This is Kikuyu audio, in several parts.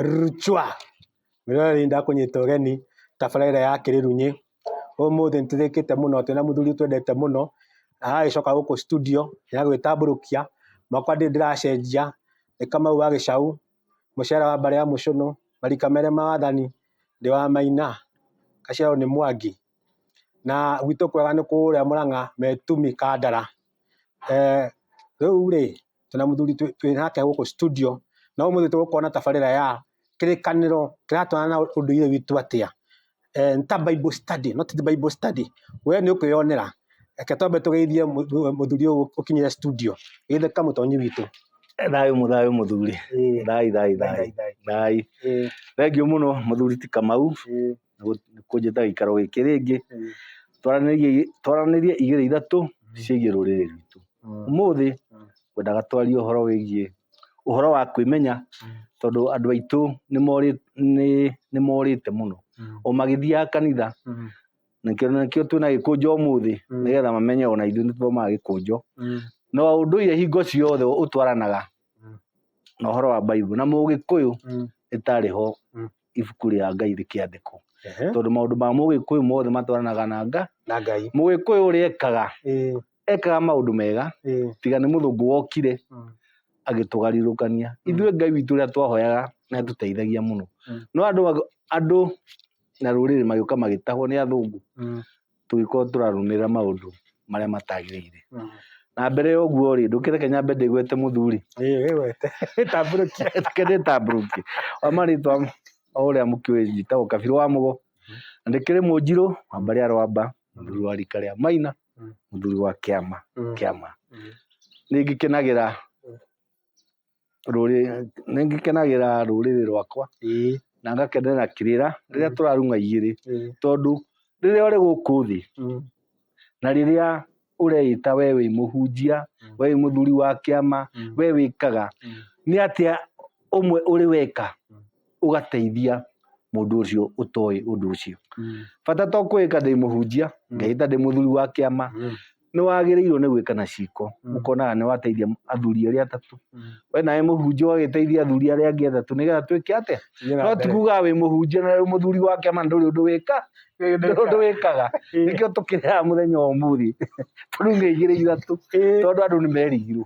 Rchwa! Mĩrore nĩ ndakũnyita ũgeni tabarĩra ya Kĩrĩrunyĩ. Ũmũthĩ nĩ tũthĩkĩte mũno, twĩna mũthuri twendete mũno, na aragĩcoka gũkũ studio, nĩ agwĩtambũrũkia. Makwa ndirĩ ndĩracenjia, nĩ Kamau wa gĩcaũ. mũcere wa mbarĩ ya mũcũnũ, marika merĩ ma wathani, ndĩ wa maina, gaciarwo nĩ mwangi, na gwitũ kwega nĩ kũrĩa mũrang'a metumi kandara, rĩu rĩ twĩna mũthuri twĩnake gũkũ studio na ũmũthĩ tũgũkorwo na tabarĩra ya kĩrĩkanĩro kĩratwarana na ũndũire witũ atĩa. eh, nĩ ta bible study not the bible study we nĩ ũkwĩyonera reke twambe tũgeithie mũ- mũ- mũthuri ũyũ ũkinyire studio geithe kamũtonyi witũ thayũ mũthayũ mũthuri Eh, thai thai thai, thai thai. thai Eh, thengio mũno mũthuri ti kamau eh, kũnjĩta gĩikaro gĩkĩ rĩngĩ eh. Twaranĩrie- twaranĩrie igĩrĩ ithatũ ciĩgiĩ rũrĩrĩ rwitũ Mm. ũmũthĩ Mm. ngwendaga twarie ũhoro wĩgiĩ ũhoro wa kwĩmenya tondũ andũ aitũ nĩ morĩ- nĩ- nĩ morĩte mũno o magĩthiaga kanitha nakĩo nakĩo twĩna gĩkũnjo ũmũthĩ Mm. nĩgetha mamenye ona ithuĩ nĩ tũthomaga gĩkũnjo na ũndũire hingo ciothe ũtwaranaga Mm. na ũhoro wa Bible na mũgĩkũyũ ĩtarĩ ho Mm. ibuku rĩa Ngai rĩkĩandĩkwo tondũ maũndũ ma mũgĩkũyũ mothe matwaranaga na nga na ngai mũgĩkũyũ ũrĩa ekaga Ĩĩ. ekaga maũndũ mega ĩĩ, tiga nĩ mũthũngũ wokire mm, agĩtũgarũrũkania Mm. ithuĩ ngai witũ ũrĩa twahoyaga nĩ atũteithagia mũno Mm. no andũ mag- andũ na rũrĩrĩ magĩũka magĩtahwo nĩ athũngũ mm, tũgĩkorwo tũrarũmĩrĩra maũndũ marĩa matagĩrĩire mm. na mbere ya ũguo rĩ ndũkĩreke nyambe ndĩgwete mũthuri Ĩĩ, wĩwete. Tambũrũkia. kendetambũrũkie wa marĩtwa o ũrĩa mũkĩũĩ njĩtagwo kabirũ wa mũgo na ndĩkĩrĩ mũnjirũ wa mbarĩ ya rwamba mũthuri wa rika rĩa maina Mm. mũthuri wa kĩama Mm. kĩama Mm. nĩ ngĩkenagĩra Mm. rũrĩ nĩ ngĩkenagĩra rũrĩrĩ rwakwa Ĩĩ, na ngakenera kĩrĩra rĩrĩa Mm. tũrarung'a igĩrĩ ĩĩ, tondũ rĩrĩa ũrĩ gũkũ thĩ mm, na rĩrĩa ũreĩta we wĩ mũhunjia Mm. we wĩ mũthuri wa kĩama mm, we wĩkaga mm. nĩ atĩa ũmwe ũrĩ weka Mm. ũgateithia mũndũ ũcio ũtoĩ ũndũ ũcio Mm. bata to kwĩka ndĩ mũhunjia Mm. ngehĩta ndĩ mũthuri wa kĩama Mm. nĩ wagĩrĩirwo nĩ gwĩka na ciko Mm. ũkonaga nĩ wateithia athuri arĩa atatũ Mm. we nawe mũhunjia ũgagĩteithia athuri arĩa angĩ atatũ nĩgetha twĩke atĩa Thiĩ na no mbere. tikuga wĩ mũhunjia na wĩ mũthuri wa kĩama ndũrĩ ũndũ wĩka Ĩĩ, ndũrĩ ũndũ wĩkaga Ĩĩ. nĩkĩo tũkĩrĩaga mũthenya wa ũmũthĩ tũrugĩigĩrĩ ithatũ Ĩĩ. tondũ andũ nĩ merigirwo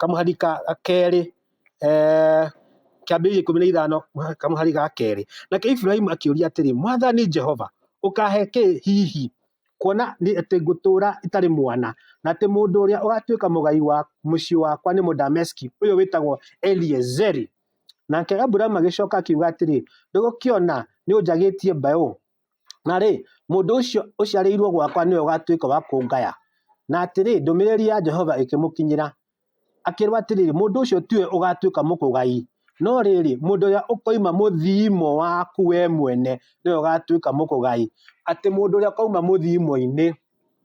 kamũhari ga kerĩ, kĩambĩrĩria ikũmi na ithano kamũhari ga kerĩ. Nake Iburahĩmu akĩũria atĩrĩ, Mwathani Jehova, ũkaahe kĩ hihi? Kuona atĩ ngũtũũra itarĩ mwana, na atĩ mũndũ ũrĩa ũgaatuĩka mũgai wa mũciĩ wakwa nĩ Mũdameski ũyũ wĩtagwo Eliezeri. Nake Aburamu agĩcoka akiuga atĩrĩ, Ndũgũkĩona nĩ ũnjagĩtie mbaũ? Na rĩ, mũndũ ũcio ũciarĩirwo gwakwa nĩwe ũgatuĩka wa kũngaya. Na atĩrĩ, ndũmĩrĩri ya Jehova ĩkĩmũkinyĩra, akĩrwo atĩrĩ, mũndũ ũcio tiwe ũgatuĩka mũkũgai, no rĩrĩ, mũndũ ũrĩa ũkoima mũthiimo waku we mwene nĩwe ũgatuĩka mũkũgai. Atĩ mũndũ ũrĩa ũkoima mũthiimo-inĩ.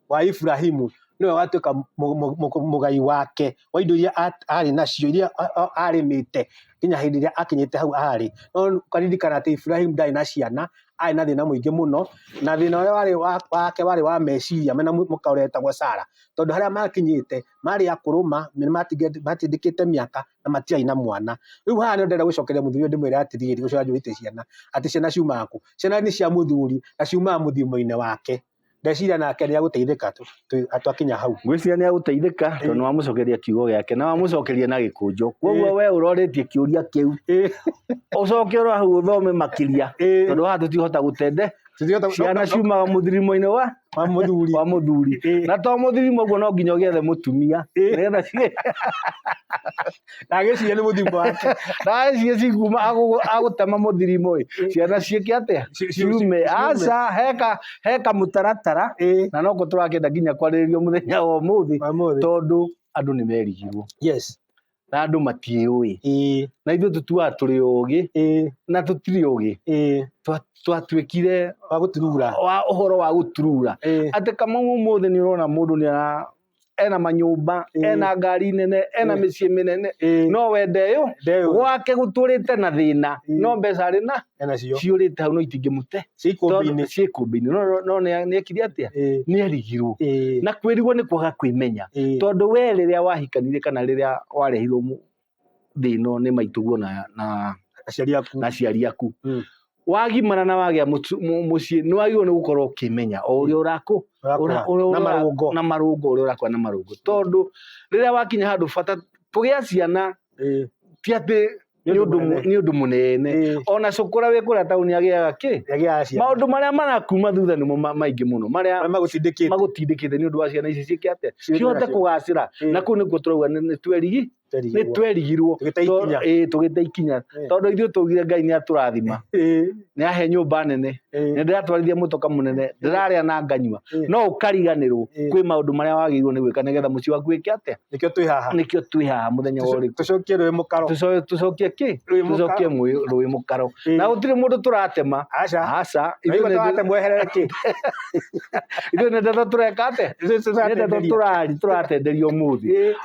wa Iburahimu nĩwe watuĩka mũ- mũ- mũ- mũgai wake wa indo iria a- arĩ nacio iria a- a- arĩmĩte nginya hĩndĩ ĩrĩa akinyĩte hau arĩ no karirikana atĩ Iburahimu ndarĩ na ciana arĩ na thĩna mũingĩ mũno na thĩna ũrĩa warĩ wa- wake warĩ wa meciria mena mũ- mũka ũrĩa wetagwo Sara tondũ harĩa makinyĩte marĩ akũrũ ma nĩ matinge- matindĩkĩte mĩaka na matiarĩ na mwana rĩu haha nĩ ndĩrenda gũcokeria mũthuri ũyũ ndĩmwĩre atĩrĩrĩ ũcio wanjũrĩte ciana atĩ ciana ciumaga kũ ciana nĩ cia mũthuri na ciumaga mũthimo-inĩ wake ndeciria nake nä agåteithä twakinya hau ngwĩciria nĩ agũteithĩka tondũ nĩ wamũcokeria kiugo gĩake na wamũcokeria na gĩkũnjo kwoguo we ũroretie kĩũria kĩu Ĩ, ũcoke ũrora hau ũthome makĩria Ĩ. tondũ haha tũtihota gũtende tũtiũhota- ciana no- no- ciumaga mũthirimo-inĩ wa wa mũthuri wa mũthuri Ĩ. na to mũthirimo ũguo no nginya ũgĩethe mũtumia Ĩ. nĩgetha ci- ndagĩciria nĩ mũthimo wake ndagĩciria cikuuma agũ- agũtema mũthirimo ĩ ciana ciĩke atĩa Ci- ci- ciume ci- aca heka heka mũtaratara Ĩĩ. na no kũ tũrakĩenda nginya kwarĩrĩrio mũthenya wa ũmũthĩ Wa ũmũthĩ. tondũ andũ nĩ merigirwo yes na andũ matiĩũĩ ĩĩ na ithuĩ tũtuaga tũrĩ ũgĩ ĩĩ na tũtirĩ ũgĩ ĩĩ Twa- twatuĩkire wa gũturura wa ũhoro wa gũturura ĩĩ atĩ kamau ũmũthĩ nĩ ũrona mũndũ nĩ ara ena manyũmba Ĩĩ. ena ngari nene ena Ĩĩ. mĩciĩ mĩnene Ĩĩ. no wende yo Ndeyo. gwake gũtũrĩte na thĩna Ĩĩ. no mbeca arĩ na Ena cio. ciũrĩte hau no itingĩmũte Cikũmbinĩ. ciĩkũmbinĩ nĩekire atĩa Ĩĩ. nĩarigirwo Ĩĩ. na kwĩrigwo nĩ kwaga kwĩmenya Ĩĩ. tondũ we rĩrĩa wahikanirie kana rĩrĩa warehirwo mũ- thĩ ĩno nĩ maitũguo na, na, aciari aku na aciari aku Mm. wagimara na wagĩa mũtu- mũ- mũciĩ nĩ wagĩrĩirwo nĩ gũkorwo ũkĩmenya o ũrĩa ũrakũ ũrakũra ũra- ũra- na ũra- marũngo na marũngo ũrĩa ũrakũra na marũngo tondũ rĩrĩa wakinya handũ bata kũgĩa ciana Ĩĩ, ti atĩ nĩ nĩ ũndũ mũnene. mũ- nĩ ũndũ mũnene Ĩĩ, ona cũkũra wĩ kũrĩa taũni agĩaga kĩ yagĩa ciana maũndũ marĩa marakuma thutha nĩmo ma- maingĩ mũno marĩa Marĩa magũtindĩkĩte magũtindĩkĩte nĩ ũndũ wa ciana ici ciĩke atĩa Ciĩke cihote atĩa? kũgacĩra Ĩĩ. na kũu nĩkuo tũrauga nĩ nĩ twerigi nĩ twerigirwo Tũgĩte To- ikinya. ĩĩ, tũgĩte ikinya Eh. tondũ ithuĩ tũgire ngai nĩ atũrathima Eh, nĩ ahe nyũmba nene eh, nĩ ndĩratwarithia mũtoka mũnene ndĩrarĩa na nganyua Eh. no ũkariganĩrwo Eh. kwĩ maũndũ marĩa wagĩrĩirwo nĩ gwĩka nĩgetha mũciĩ waku wĩke atĩa nĩkĩo twĩ haha nĩkĩo twĩ haha mũthenya wa ũrĩkũ tũcokie rwĩ mũkaro Tũco- tũcokie kĩ Rũĩ mũkaro. tũcokie mũĩ- rũĩ mũkaro Eh. na gũtirĩ mũndũ tũratema aca aca ithuĩ nĩ- ithuĩ mweherere kĩ nĩ ndeto tũreka atĩa Ithuĩ nĩ ndeto tũratenderia. tũrari tũratenderia ũmũthĩ Eh,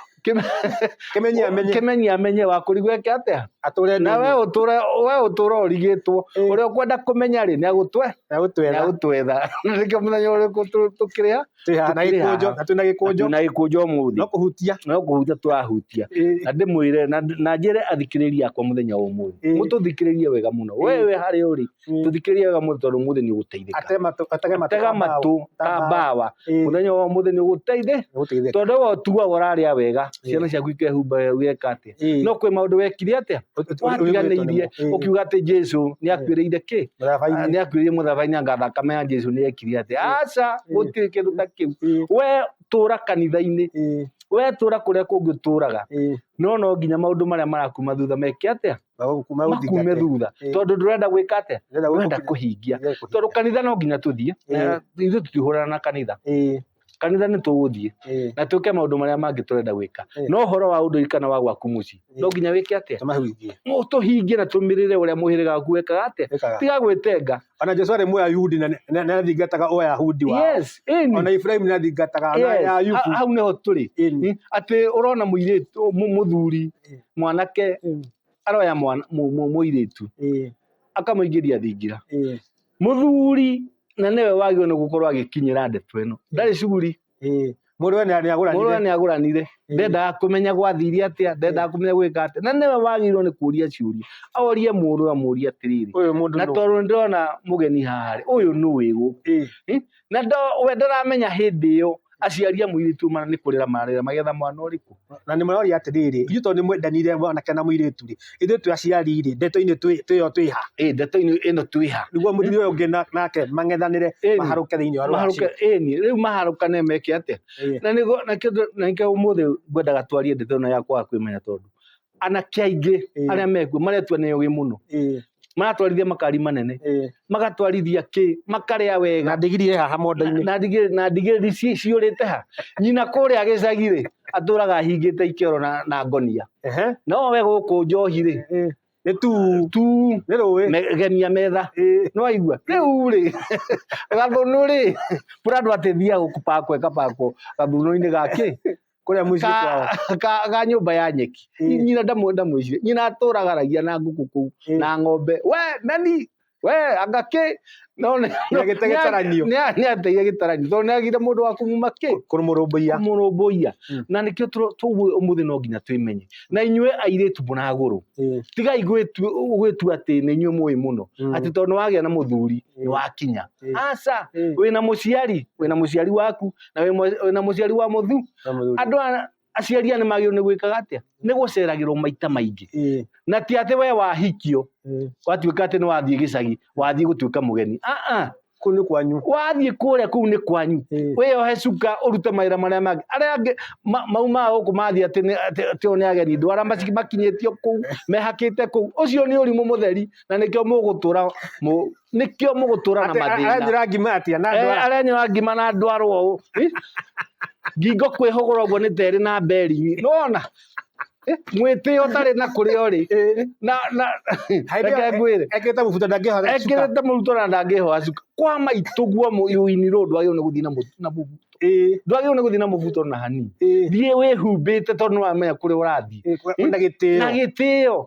Kĩmenye amenye. kĩmenyi amenye wakũri gweke atĩa Atũre na we nini. ũtũre we ũtũre ũrigĩtwo Ĩĩ. ũrĩa ũkwenda kũmenya rĩ nĩ agũtwe Na gũtwetha. nĩ agũtwetha nĩkĩo mũthenya ũrĩkũ tũ- tũkĩrĩ ha Twĩ haha na tũkĩrĩ haha. gĩkũnjo. Na twĩ na gĩkũnjo. na gĩkũnjo mũthĩ No kũhutia. no kũhutia tũrahutia Ĩĩ. na ndĩmwĩre na na njĩre athikĩrĩria akwa mũthenya wa ũmũthĩ Ĩĩ. mũtũthikĩrĩrie wega mũno Ĩĩ. wewe harĩa ũrĩ Mm. tũthikĩrie wega mũthĩ tondũ mũthĩ nĩ ũgũteithĩka Ate matũ- atege matũ tega ka mbaũ. matũ Ka ka mbaũ. mbawa Ĩĩ, mũthenya wa mũthĩ nĩ ũgũteithĩ nĩgũteithĩka. tondũ we ũtuaga ũrarĩa wega Ĩĩ. ciana ciaku ikehumba wega weka atĩa Ĩĩ, no kwĩ maũndũ wekire atĩa ũ- ũ- watiganĩirie ũ- ĩĩ, ũkiuga atĩ jesu nĩ akuĩrĩire kĩ mũthabainĩ. nĩ akuĩrĩire mũthabainĩ anga thakame ya jesu nĩ yekire atĩa Ĩĩ. aca Ĩĩ. gũtirĩ kĩndũ ta kĩu Ĩĩ, we tũra kanitha-inĩ ĩĩ, we tũra kũrĩa kũngĩ ũtũraga ĩĩ. no no nginya maũndũ marĩa marakuma thutha meke atĩa Magũkume makume thutha Eh. tondũ ndũrenda gwĩka atĩa Ndĩrenda gũkũ- ndũrenda kũhingia Ndĩrenda kũhingia. tondũ kanitha no nginya tũthiĩ Eh. Na ithuĩ tũtihũrana na kanitha Ĩĩ, kanitha nĩ tũgũthiĩ ĩĩ. na twĩke maũndũ marĩa mangĩ tũrenda gwĩka Eh. no ũhoro wa ũndũ kana wa gwaku mũciĩ no Eh. nginya wĩke atĩa Tũmahuithie. Mũ- tũhingie na tũmĩrĩre ũrĩa mũhĩrĩga waku wekaga atĩa Ĩkaga. tiga gwĩtenga Ona Jesu arĩ Mũyahudi na nĩ- na- nĩathingataga Ũyahudi wao. yes ĩni. Ona Iburahĩmu nĩathingataga ona Yes, Ayubu. ha- hau nĩho tũrĩ Ĩni. Mm, atĩ ũrona mũirĩtu mũ- mũthuri Eh. mwanake Mm. aroya mwana- mũ- mũ- mũirĩtu Eh, akamũingĩria thingira eh, mũthuri na nĩwe wagĩrĩirwo nĩ gũkorwo agĩkinyĩra ndeto ĩno ndarĩ cuguri eh. Mũndũ we nĩ- nĩagũranire. mũrũ we nĩ agũranire Eh. ndendaga kũmenya gwathiire atĩa ndendaga kũmenya gwĩka atĩa na nĩwe wagĩrĩirwo nĩ kũria ciũria orie mũndũ amũrie atĩrĩrĩ Ũyũ mũndũ na nũ? tondũ nĩ ndĩrona mũgeni haha rĩ ũyũ nũ wĩgũ Eh, na we ndaramenya hĩndĩ ĩyo aciaria mũirĩtu mana nĩ kũrĩra mararĩra magetha mwana ũrĩkũ na nĩ mũroria atĩrĩrĩ ithuĩ tondũ nĩ mwendanire mwanake na mũirĩtu rĩ ithuĩ twĩ aciari rĩ ndeto-inĩ twĩyo twĩha ĩĩ ndeto ĩno twĩha nĩguo mũthuri ũyũ ũngĩ nake mang'ethanĩre maharũke thĩinĩ wa maharũke ĩni rĩu maharũkane meke atĩa na nĩkĩo ũmũthĩ ngwendaga twarie ndeto ĩno ya kwaga kwĩmenya tondũ anake aingĩ Ĩĩ. arĩa mekuo maretua nĩ ũgĩ mũno Ĩĩ, maratwarithia makari manene ĩĩ. magatwarithia kĩ makarĩa na wega ndigiri ĩ haha mondo-inĩ na ndigĩ- na ndigĩri ci- ciũrĩte ha nyina kũrĩa gĩcagi-rĩ atũraga ahingĩte ikero na, na ngonia Ehe. no we gũkũ njohi-rĩ Ĩĩ. nĩ tu tu nĩ rũĩ me- gemia metha Ĩĩ. nwaigua rĩu rĩ gathũnũ rĩ mũrandũ atethia gũkupakwo ĩkapakwo gathũnũ-inĩ gakĩ kũrĩa mũciĩ kwao ka, ka, ka nyũmba ya nyeki Ĩ. Nyi- nyina ndamwe ndamwĩcire nyina atũragaragia na ngũkũ kũu Ĩ. na ng'ombe we nani we anga kĩ no nĩ- Nĩ agĩte gĩtaranio. nĩ- nĩ ateire gĩtaranio tondũ nĩ agire mũndũ wa kumuma kĩ kũrũmũrũmbũiya mũrũmbũiya Mm. na nĩkĩo tũro- tũguo ũmũthĩ no nginya twĩmenye na inyuĩ airĩtu mũragũrũ Ĩ. tigai gwĩtu- gwĩtua atĩ nĩ inyuĩ mũĩ mũno Mm. atĩ tondũ nĩ wagĩa na mũthuri nĩ wakinya Ĩ. aca Ĩ. wĩna mũciari wĩna mũciari waku na wĩ mwe- wĩna mũciari wa mũthu Na mũthuri. andũ a- aciari aya nĩ magĩrĩirwo nĩ gwĩkaga atĩa nĩ gũceragĩrwo maita maingĩ Ĩĩ, na ti atĩ we wahikio ĩĩ. watuĩka atĩ nĩ wathiĩ gĩcagi wathiĩ gũtuĩka mũgeni aa kũu nĩ kwanyu wathiĩ kũrĩa kũu nĩ kwanyu Ĩĩ. wĩyohe cuka ũrute mawĩra marĩa mangĩ arĩa angĩ ma- mau ma gũkũ mathiĩ atĩ nĩ- atĩ- atĩ o nĩ ageni ndwara maci- makinyĩtio kũu mehakĩte kũu ũcio nĩ ũrimũ mũtheri na nĩkĩo mũgũtũra mũ- nĩkĩo mũgũtũra na mathĩna arenyũra ngima atia na ndwara eh, arenyũra ngima na ndwara ũũ eh? ngingo kwĩhũgũra ũguo nĩ terĩ na mberi nona eh, mwĩtĩo ũtarĩ na kũrĩa ũrĩ na na reke ngwĩre ekĩrĩte mũbuto ndangĩhora ekĩrĩte mũbuto na ndangĩhora cuka kwa maitũ guo mũini rũũ ndwagĩrĩirwo nĩ gũthiĩ na mũbuto ndwagĩrĩirwo nĩ gũthiĩ na mũbuto na hanini thiĩ wĩhumbĩte tondũ nĩwamenya kũrĩa ũrathiĩ na gĩtĩo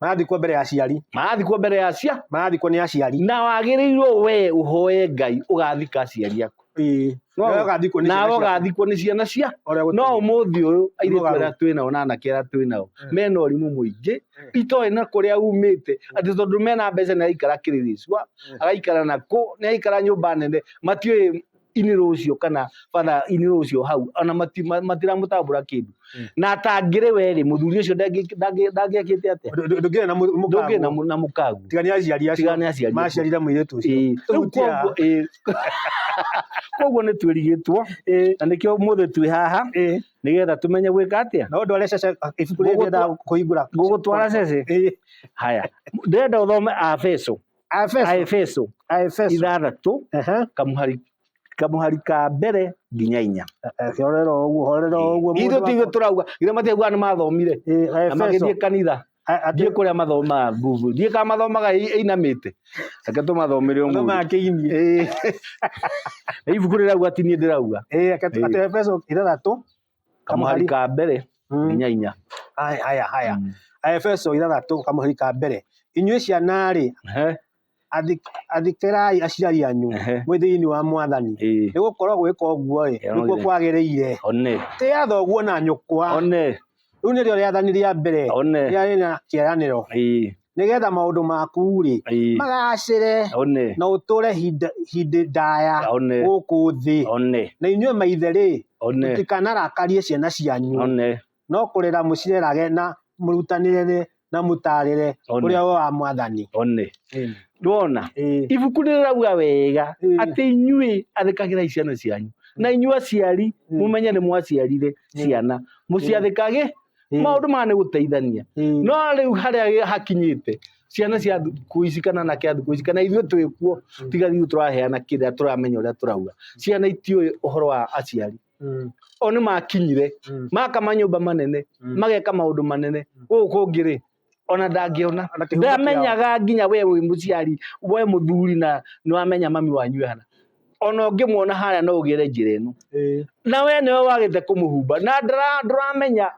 marathikwo mbere ya aciari marathikwo mbere ya cia marathikwo nĩ aciari na wagĩrĩirwo we ũhoe ngai ũgathika aciari aku Ĩĩ. No- Nawe ũgathikwo nĩ nawe ciana ciaku. ũgathikwo nĩ ciana cia Ũrĩa gũtũire. no ũmũthĩ ũyũ airĩtu Mũgarũ. arĩa twĩ nao na anake arĩa twĩ nao Mm. mena ũrimũ mũingĩ Mm. itoĩ na kũrĩa umĩte atĩ tondũ mena mbeca nĩ araikara kĩrĩrĩcua Mm. agaikara na kũ nĩ araikara nyũmba nene matiũĩ inĩ rũcio kana batha inĩ rũcio hau ona matiramũtambũra kĩndũ mm. na atangĩrĩ werĩ mũthuri ũcio ndangĩakĩte atĩa ndũngĩrĩ na mũkagu tiga nĩ aciari acio maciarire mũirĩtu ũcio koguo nĩ twĩrigĩtwo na nĩkĩo mũthĩ twĩ haha nĩgetha tũmenye gwĩka atĩa no ndware cece ibuku rĩrĩa kũhingũra ngũgũtwara cece haya ndĩrenda ũthome abeco a Efeso Aefeso a Efeso ithathatũ Ehe. kamuhari kamuhari ka mbere nginya inya Eke horera ũguo horera ũguo ithu mũndũ tigä wa- tå rauga ithe matiaiguaga nä mathomire Eh, na Efeso. magä thiä kanitha A- a- thiä kå rä a mathomaga nguvu thiä ka mathomaga ĩinamä te reke tå mathomä re Andũ makĩini. ibuku rä rauga ti niä ndä rauga Eh, eke- ati Efeso ithathatũ kamũhari ka mbere mm. nginya inya haya haya mm. aefeso ithathatũ kamũhari ka mbere inyuĩ ciana-rĩ athikirai aciari anyu mwĩ thĩinĩ wa mwathani nĩ gũkorwo gwĩka ũguo-ĩ nĩkuo kwagĩrĩire tĩ athoguo na nyũkwa rĩu nĩrĩo rĩathani rĩa mbere rĩarĩ na kĩaranĩro nĩgetha maũndũ maku-rĩ Ĩĩ. magacĩre one na ũtũre hinda- hĩndĩ ndaya one gũkũ thĩ one na inyuĩ maithe-rĩ one mũtikanarakarie ciana cianyu one no kũrera mũcirerage na mũrutanĩre na mũtaarĩre one ũrĩa wa mwathani one ndwona Ĩĩ. ibuku nĩ rĩrauga wega Ĩĩ. atĩ inyuĩ athĩkagĩrai ciana cianyu na inyuĩ aciari Ĩĩ. mũmenye nĩ mwaciarire Ĩĩ. ciana mũciathĩkage Mm. maundu maya nĩ gũteithania Mm. no rĩu harĩa hakinyĩte ciana cia thukũ ici kana na kĩa thukũ ici kana ithuĩ twĩ kuo Mm. tiga rĩu tũraheana kĩrĩa tũramenya ũrĩa tũrauga ciana itiũĩ ũhoro wa aciari Mm. o nĩ makinyire Mm. maka manyũmba manene Mm. mageka maũndũ manene gũkũ kũngĩ rĩ ona ndangĩona Ona kĩhumo kĩao. ndamenyaga nginya we wĩ mũciari we mũthuri na nĩwamenya mami wanyu ehana ona ũngĩmuona harĩa no ũgere njĩra ĩno Ĩĩ. na we nĩwe wagĩte kũmũhumba na ndara- ndũramenya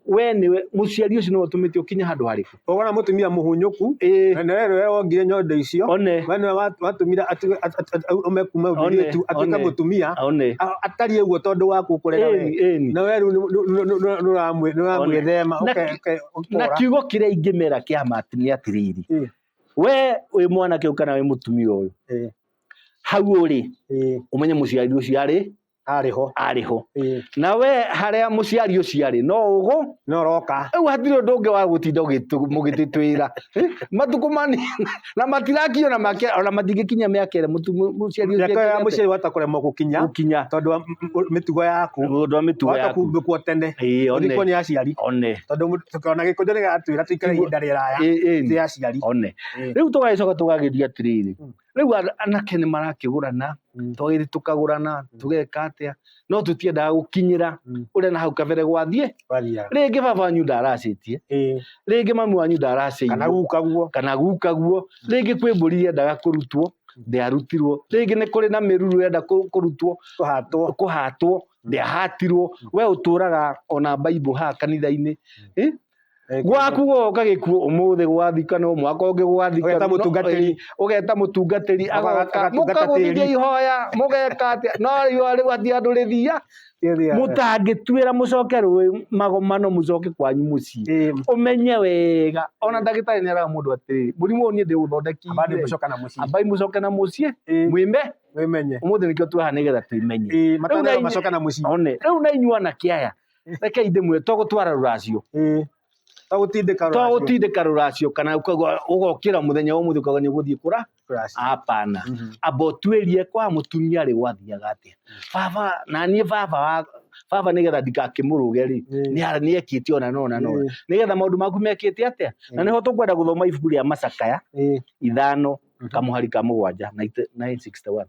we nĩwe mũciari ũcio nĩwe ũtũmĩte ũkinye handũ harĩkũ ũgona mũtumia mũhunyũku Ĩĩ. na nĩwe nĩwe wongire nyondo icio one we nĩwe wa- watũmire atige- at- at- at- aume kuma One, mũirĩtu atuĩke one. mũtumia one A- atariĩ ũguo tondũ wa gũkũrera Ĩni, we ĩni. na we rĩu nĩ- nĩ- nĩ- nĩ- nĩ- nĩũramwĩ- nĩũramwĩthema Na- ũke- ũke- na ũtũra kiugo kĩrĩa ingĩmera kĩa ma atĩ nĩ atĩrĩrĩ Eh. we wĩ mwanake ũyũ kana wĩ mũtumia ũyũ Eh. hau ũrĩ Eh, ũmenye mũciari ũcio arĩ arĩ ho arĩ ho Eh, na we harĩa mũciari ũcio arĩ no ũgũ no roka rĩu hatirĩ ũndũ ũngĩ wa gũtinda ũgĩtũ- mũgĩtĩtwĩra matukũ mani na matirakinya ona make ona matingĩkinya mĩaka ĩrĩa mũtu- mũ- mũciari ũcio mĩaka ya ekinyĩte. mũciari wahota kũremwo gũkinya gũkinya tondũ wa m- m- mĩtugo yaku tondũ wa mĩtugo wahota yaku kumbĩkwo tene Ĩĩ, one. ũrikwo nĩ aciari one tondũ mũ- tũkĩona gĩkũnjũ nĩ gatwĩra tũikare Tiguo- ihinda rĩraya Ĩĩ, ĩĩ. tĩ aciari one Ĩĩ. rĩu tũgagĩcoka tũgagĩthiĩ atĩrĩrĩ Mm. rĩu ana- anake nĩ marakĩgũrana Mm. twagĩrĩ tũkagũrana tũgeka atĩa no tũtiendaga gũkinyĩra Mm. ũrĩa na hau kabere gwathiĩ waria rĩngĩ baba wanyu ndaracĩtie Eh, rĩngĩ mami wanyu kana ndaracĩirwo guka guo kana guka guo rĩngĩ kwĩ mbũri yendaga kũrutwo ndĩarutirwo rĩngĩ nĩ kũrĩ na mĩruru yenda kũ- kũrutwo tũhatwo kũhatwo ndĩahatirwo we ũtũraga ona baibũ haha kanitha-inĩ Eh, gwaku woka gĩkuũ ũmũthĩ gwathika no mwaka ũngĩ gwathika Ũgeta no- mũtungatĩri. eh, ũgeta mũtungatĩri Aga- agoka agatungata mũkagũthithia tĩri. ihoya mũgeka atĩa no riũa rĩu ati andũ rĩthia mũtangĩtuĩra mũcoke rũĩ magomano mũcoke kwanyu mũciĩ Eh, ũmenye wega ona ndagĩtarĩ nĩ araga mũndũ atĩrĩrĩ mũrimũ ũyũ niĩ abandi ndĩũthondekire gucoka na mucii ambai mũcoke na mũciĩ Eh. mwĩme wimenye ũmũthĩ nĩkĩo tweha nĩgetha tũimenye Eh, matano Rĩu na- macoka na mucii one rĩu na inyuĩ anake aya reke indĩmwe to gũtwara rũracio Ĩĩ. To gũtindĩka to rũracio. gũtindĩka rũracio kana ũkagwa- ũgokĩra mũthenya wa mũthĩ ũkagwa nĩ ũgũthiĩ kũra Rũracio. hapana Mhm. amba ũtuĩrie kwa mũtumia rĩ gwathiaga atĩa baba na niĩ baba wa baba nĩgetha ndikakĩmũrũge rĩ Ĩĩ. nĩ- nĩekĩte ona na ona na ona Ĩĩ. nĩgetha maũndũ maku mekĩte atĩa na nĩho tũkwenda gũthoma ibuku rĩa macakaya Ĩĩ. ithano Mhm. kamũhari ka mũgwanja 961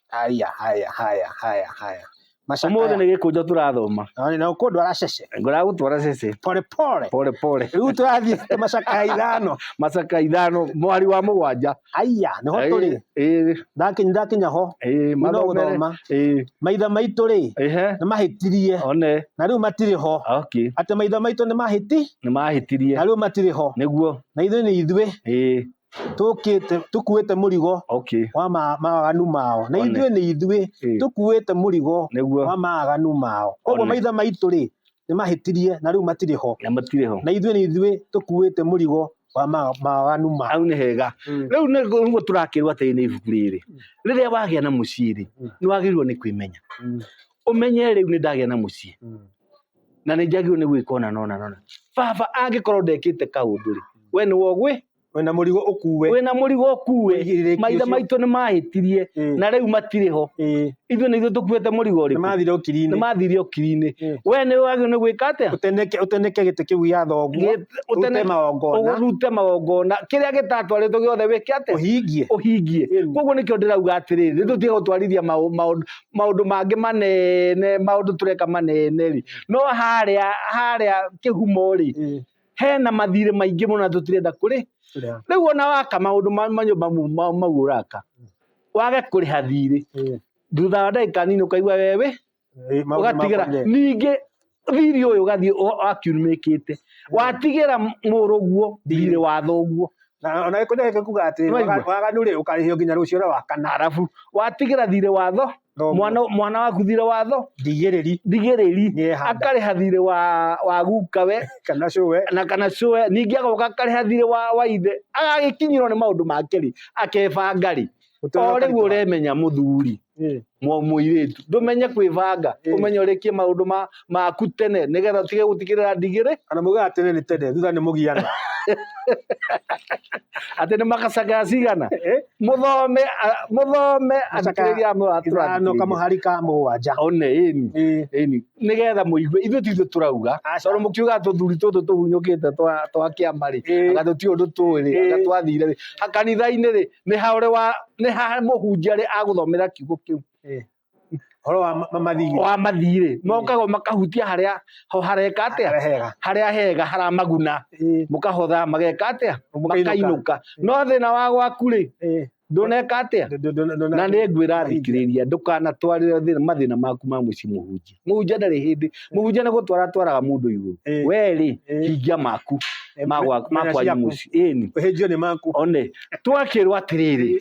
Haya, haya, haya, haya, haya. Macakaya. Umuthi ni gikunjo turathoma. Nĩ na ũkũndũ aracece. Nguragutwara cece. Pole pole. Pole pole. Rĩu tũrathiĩ macakaya ithano. Macakaya ithano mwari wa mũgwanja. Aya, nĩho tũrĩ. Ĩĩ. Ndakinya ndakinya ho. Ĩĩ, mathomere. Ĩĩ. Maitha maitũ rĩ. Ehe. Nĩ mahĩtirie. One. Na rĩu matirĩ ho. Okay. Atĩ maitha maitũ nĩ mahĩti. Nĩ mahĩtirie. Na rĩu matirĩ ho. Nĩguo. Na ithuĩ nĩ ithuĩ. Ĩĩ. tũkĩte tũkuĩte mũrigo okay wa ma- mawaganu mao na One. ithuĩ nĩ ithuĩ Eh. tũkuĩte mũrigo nĩguo wa mawaganu mao koguo One. maitha maitũ rĩ nĩ mahĩtirie na rĩu matirĩ ho na matirĩ ho na ithuĩ nĩ ithuĩ tũkuĩte mũrigo wa ma- mawaganu mao hau nĩ hega Mm. rĩu nĩ- nĩguo tũrakĩrwo atĩrĩ nĩ ibuku rĩrĩ rĩrĩa wagĩa na mũciĩ rĩ Mm. nĩ wagĩrĩirwo nĩ kwĩmenya Mm. ũmenye rĩu nĩ ndagĩa na mũciĩ Mm. na nĩ njagĩrĩirwo nĩ gwĩka ona nona nona baba angĩkorwo ndekĩte kaũndũ rĩ we nĩ wogwĩ wĩna mũrigo ũkuue wĩna mũrigo ũkuue Ũigĩrĩrĩki maithe ũcio. maitũ nĩ mahĩtirie Mm. na rĩu matirĩ ho Ĩĩ, ithuĩ nĩ ithuĩ tũkuĩte mũrigo nĩ ũrĩkũ mathire ũkiri-inĩ nĩ mathiire ũkiri-inĩ Mm. we nĩ wagĩrĩirwo nĩ gwĩka atĩa ũteneke ũteneke gĩtĩ kĩu gĩa thoguo Gĩ- ũte magongona ũgũrute magongona kĩrĩa gĩtatwarĩtwo gĩothe wĩke atĩa ũhingie ũhingie Mm. koguo nĩkĩo ndĩrauga atĩrĩrĩ nĩ tũtige gũtwarithia maũ- maũndũ- maũndũ mangĩ manene maũndũ tũreka manene rĩ no harĩa harĩa kĩhumo rĩ Ĩĩ. hena mathirĩ maingĩ mũno na tũtirenda kũrĩ Kũrĩa. rĩu ona waka maũndũ ma ma nyũmba mu- ma- mau ũraka wage kũrĩha thirĩ Eh, thutha wa ndagĩka nini ũkaigua wewe eh, maũndũ ũgatigĩra makwa nĩ- ningĩ thirĩ ũyũ ũgathiĩ ũ- akiumĩkĩte watigĩra mũrũguo thirĩ wa thoguo na ona gĩkũnja gĩkĩ kuga atĩ Nĩwaigua? waga- waganu rĩ ũkarĩhio nginya rũciũ na wakana arabu watigĩra thirĩ wa tho Thoguo. mwana mwana waku thirĩ watho ndigĩrĩri thigĩrĩri Nĩehanda. akarĩha thirĩ wa wa guka we kana cũwe na kana cũe ningĩ agoka akarĩha thirĩ wa wa ithe agagĩkinyĩrwo nĩ maũndũ make rĩ akebanga rĩ Ũtũũro o rĩu ũkarĩka. ũremenya mũthuri Ĩ. mwa- mũirĩtu ndũmenye kwĩbanga Ĩ. ũmenye ũrĩkie maũndũ ma maku tene nigetha utige gutikirira ndigiri kana muga atene ni tene thutha ni mugiana ati ni makacakaya cigana eh muthome a- muthome atikiriri amwe wa no kama hari ka mugwanja one ini eh ini nigetha muigue ithu tithu turauga Aca. tondu mukiuga tuthuri tutu tuhunyukite twa twa kiama ri Eh. anga tuti undu tui ri anga Eh. twathire ri hakanitha-ini ri ni haure wa ni ha muhunjia ri aguthomera kiugo kiu eh horo wa ma- mathiri wa mathirĩ mokaga o makahutia harĩa ho hareka atĩa Harĩa hega. harĩa hega haramaguna Ĩĩ, mũkahotha mageka atĩa Mũkainũka. makainũka no thĩna wa gwaku rĩ ĩĩ. ndũneka atĩa Ndũ- ndũ- ndũ- ndũ- na nĩ ngwĩra Mahinga. thikĩrĩria ndũkanatwarĩre thĩna- mathĩna maku ma mũciĩ mũhunjia mũhunjia ndarĩ hĩndĩ mũhunjia nĩ gũtwara twaraga mũndũ igũrũ Ĩĩ. werĩ Ĩĩ. hingia maku Ĩĩ, ma gwa- ma menya kwanyu ciaku. mũciĩ ĩni ũhĩnjio nĩ maku one twakĩrwo atĩrĩrĩ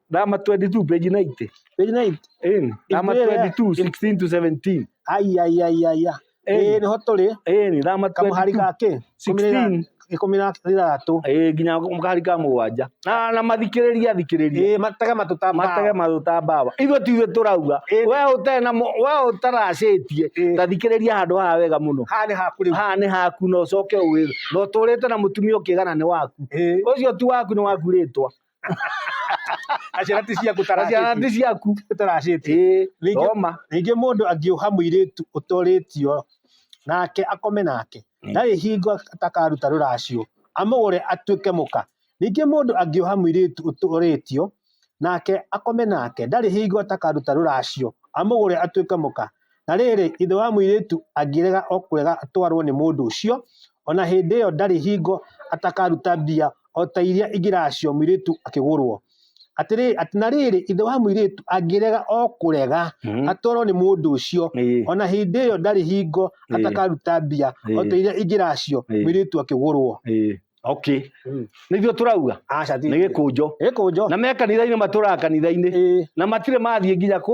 Dama 22 page 90. Page 90. Ĩni. Dama Ĩndĩ ĩrĩa- 22 16 to 17. Ai ai ai ai. ai. Ĩni. Eh, nĩ ho tũrĩ. Ĩni. Dama Kamuhari 22. ga kĩ? 16. Ikũmi na ithathatũ. Ĩĩ nginya mũkahari ka mũgwanja. Na na mathikĩrĩria thikĩrĩria. Eh, matega matũtamba. Matege mathuta mbawa. Ithuĩ tiwe tũrauga. Ĩni. We ũte na mũ- we ũtaracĩtie. Ĩĩ. Ta thikĩrĩria handũ haha wega mũno. Haha nĩ haku rĩu. Haha nĩ haku na ũcoke ũwĩra. Na ũtũrĩte na mũtumia ũkĩgana nĩ waku. Eh. Ũcio ti waku nĩ waku rĩtwa. na ciana ti ciaku na ciana nĩ ciaku taracĩtie Ĩĩ, Ningĩ- thoma ningĩ mũndũ angĩũha mũirĩtu ũtorĩtio nake akome nake Mm. ndarĩ hingo atakaruta rũracio amũgũre atuĩke mũka ningĩ mũndũ angĩũha mũirĩtu ũtorĩtio nake akome nake ndarĩ hingo atakaruta rũracio amũgũre atuĩke mũka Na rĩrĩ, ithe wa mũirĩtu angĩrega o kũrega atwarwo nĩ mũndũ ũcio, o na hĩndĩ ĩyo ndarĩ hingo atakaruta mbia o ta iria ingĩ nacio mũirĩtu akĩgũrwo. Atĩrĩ, atĩ na rĩrĩ, ithe wa mũirĩtu angĩrega o kũrega Mhm. atwarwo nĩ mũndũ ũcio, Ĩĩ. o na hĩndĩ ĩyo ndarĩ hingo Ĩĩ. atakaruta mbia o ta Ĩĩ. iria ingĩ nacio Ĩĩ. mũirĩtu akĩgũrwo. Ĩĩ. Okay. Mm. Nĩ ithuĩ tũrauga Aca ti nĩ gĩkũnjo. Gĩkũnjo. Na me kanitha-inĩ matũraga kanitha-inĩ Ĩĩ. na matirĩ mathiĩ nginya kũ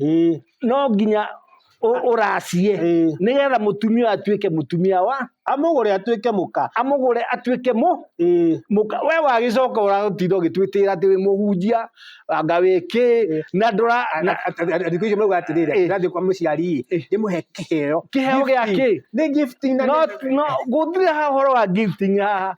Ĩĩ. no nginya ũ- ũracie Ĩĩ. nĩgetha mũtumia ũyũ atuĩke mũtumia wa amũgũre atuĩke mũka amũgũre atuĩke mũ Ĩĩ. mũka we wagĩcoka ũratinda ũgĩtwĩtĩra atĩ wĩ mũhunjia anga wĩ kĩ na ndũra na- thikũ icio mauga atĩrĩrĩ Ĩĩ. ndĩrathiĩ kwa mũciari Ĩĩ. ndĩmũhe kĩheo Kĩheo gĩa Gifting. kĩ? nĩ gifting na no nĩ- no gũtirĩ ha ũhoro wa gifting haha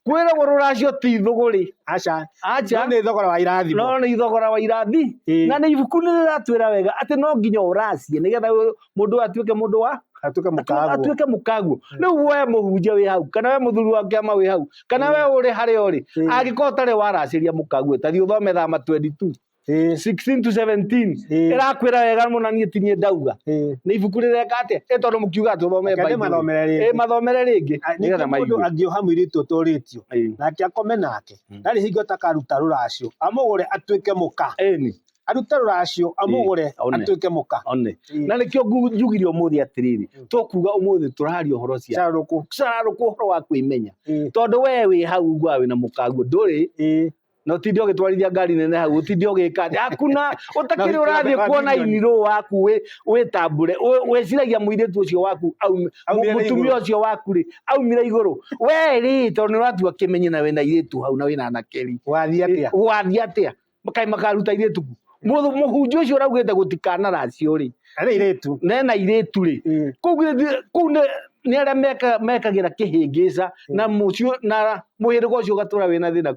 kwĩragwo rũracio ti thũgũrĩ aca aca nĩ thogora wa irathi no nĩ thogora wa irathi na nĩ ibuku nĩ rĩratwĩra wega atĩ no nginya ũracie nĩgetha mũndũ atuĩke mũndũ wa atuĩke mũkaguo atuĩke mũkaguo hmm. rĩu we mũhunjia wĩ hau kana we mũthuri wa kĩama wĩ hau kana hmm. we ũrĩ harĩa ũrĩ hmm. angĩkorwo ũtarĩ waracĩria mũkaguo ta thiĩ ũthome thama 22 Ĩĩ. 16 to 17 Ĩĩ. ĩrakwĩra wega mũna niĩ tinie ndauga Ĩĩ. nĩ ibuku rĩreka atĩa ĩ tondũ mũkiuga tũthome Reke ndĩmathomere rĩngĩ. Ĩĩ, mathomere rĩngĩ nĩgetha ningĩ mũndũ maigue angĩoha mũirĩtu ũtũrĩtio Ĩĩ. nake akome nake Mm. ndarĩ hingo atakaruta rũracio amũgũre atuĩke mũka Ĩni, arute rũracio amũgũre Ĩĩ, one. atuĩke mũka one Ĩĩ. na nĩkĩo ngu- njugire ũmũthĩ atĩrĩrĩ Mm. tũkuga ũmũthĩ tũraria ũhoro cia carũkũ cararũkwo ũhoro wa kwĩmenya Ĩĩ. tondũ we wĩ hau uguaga wĩna mũkaguo ndũrĩ Ĩĩ. na utinde ugitwarithia ngari nene hau utinde ugika atĩa? hakuna utakiri Na urathie wĩkĩra kuona mĩwani. iniro waku wi witambure wiciragia muiritu ucio waku aum- Aumire mu- mutumia igũrũ. ucio waku ri aumire iguru we ri tondu ni uratua kimenye na wina iritu hau na wina anakeri wathiĩ atĩa wathiĩ atia makai makaruta iritu ku Mũthũ- mũhunjia ũcio ũraugĩte gũtikanaracio rĩ Arĩ iretu. nena irĩtu rĩ Mm. kũu gĩthi- kũu nĩ nĩ arĩa meka- mekagĩra kĩhĩngĩca na mũcio na mũhĩrĩga ũcio ũgatũra wĩna thĩna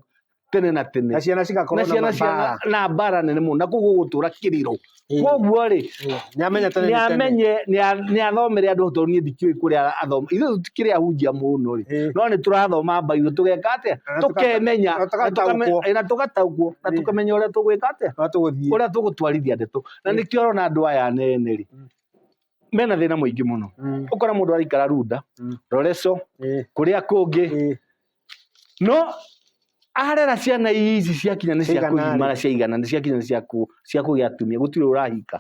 tene na tene Na ciana cigakorwo na ciana mabara. ciana na mbara nene mũno na koguo gũtũra kĩrĩro Mm. koguo rĩ Mm. Nĩ amenye tene nĩ nĩ tene. amenye nĩ a- nĩ athomere andũ tondũ niĩ ndikĩũĩ kũrĩa athoma ithe tũtikĩrĩ ahunjia mũno rĩ Eh. no nĩ tũrathoma mbairũ tũgeka atĩa Na tũka- tũkemenya na tũgataũkwo. na tũgataũkwo na Eh. tũkamenya ũrĩa tũgwĩka atĩa No tũgũthiĩ. ũrĩa tũgũtwarithia ndeto na nĩkĩo ũrona andũ aya anene rĩ Mm. mena thĩna mũingĩ mũno Mm. ũkora mũndũ araikara runda Mm. roreco Eh. kũrĩa kũngĩ Eh. no arera ciana ici ciakinya nĩ cia Ciigana-rĩ? kũgimara ciaigana nĩ ciakinya nĩ cia kũ- cia kũgĩa atumia gũtirĩ ũrahika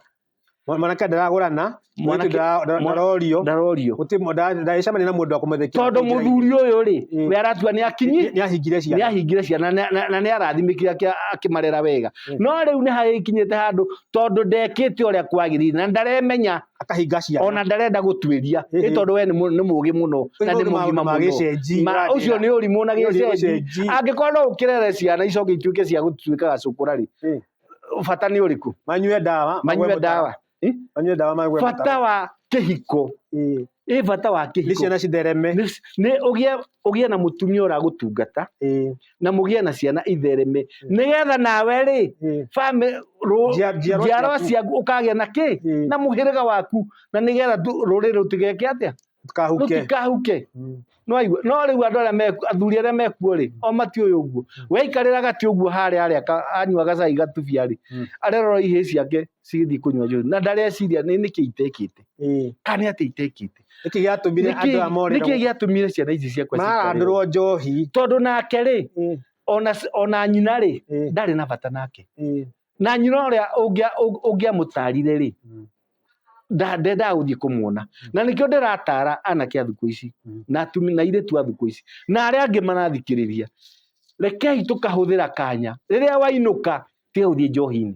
Mwa- mwanake ndaragũrana Mwanake- mwanake ndara- ndara- mwa- ndarorio ndarorio gũtirĩ mũ- nda- ndagĩcemania na mũndũ wa kũmũthekia tondũ mũthuri ũyũ rĩ Mm. we aratua nĩ akinyi nĩ ahingire nĩ ciana ahingire ciana na- na na nĩ arathimĩkire akĩ- akĩmarera wega Mm. no rĩu nĩ hagĩkinyĩte handũ tondũ ndekĩte ũrĩa kwagĩrĩire na ndaremenya akahinga ciana ona ndarenda gũtuĩria nĩ Ehe. tondũ we nĩ mũ- nĩ mũũgĩ mũno na nĩ mũgima mũno gĩcenji Ma- ũcio nĩ ũrimũ na Ũcio nĩ gĩcenji gĩcenji. angĩkorwo no ũkĩrere ciana icoke ituĩke cia gũtuĩka gacũkũra rĩ Eh. bata nĩ ũrĩkũ manyue ndawa manyue magwe ndawa mũtaro. Eh? manyue ndawa magwe bata wa kĩhiko Eh, ĩ bata wa nĩ kĩhiko ciana cithereme Nĩ- nĩ ũgĩe ũgĩe na mũtumia ũragũtungata Eh, na mũgĩe na ciana ithereme nĩgetha nawe rĩ Eh, famĩ- rũ- Njia- njiarwa njiarwa ciaku. ciaku ũkagĩa na kĩ Eh. na mũhĩrĩga waku na nĩgetha ndũ- rũrĩrĩ rũtigeke atĩa Ndũkahuke. rũtikahuke Mm. no aigua no rĩu andũ arĩa meku athuri arĩa mekuo rĩ o mati ũyũ ũguo waikarĩra gati ũguo harĩa harĩa ka- anyua gacai gatubia rĩ Mm. arerora ihĩ ciake cigĩthiĩ kũnyua njohi na ndareciria nĩ nĩkĩ itekĩte Eh, kana nĩ atĩa itekĩte nĩkĩ gĩatũmire andũ aya morĩrwo nĩkĩ gĩatũmire ciana ici ciakwa cikorĩrwo? marandũrwo njohi tondũ nake rĩ Mm, ona, ona nyina rĩ mm, ndarĩ na bata nake mm, na nyina ũrĩa ũngĩa- ũng- ũngĩamũtarire rĩ mm. nda- ndendaga gũthiĩ kũmuona na nĩkĩo ndĩratara anake a thukũ ici Mm. na atumi- na irĩtu a thukũ ici na arĩa angĩ marathikĩrĩria rekei tũkahũthĩra kanya rĩrĩa wainũka tiga gũthiĩ njohi-inĩ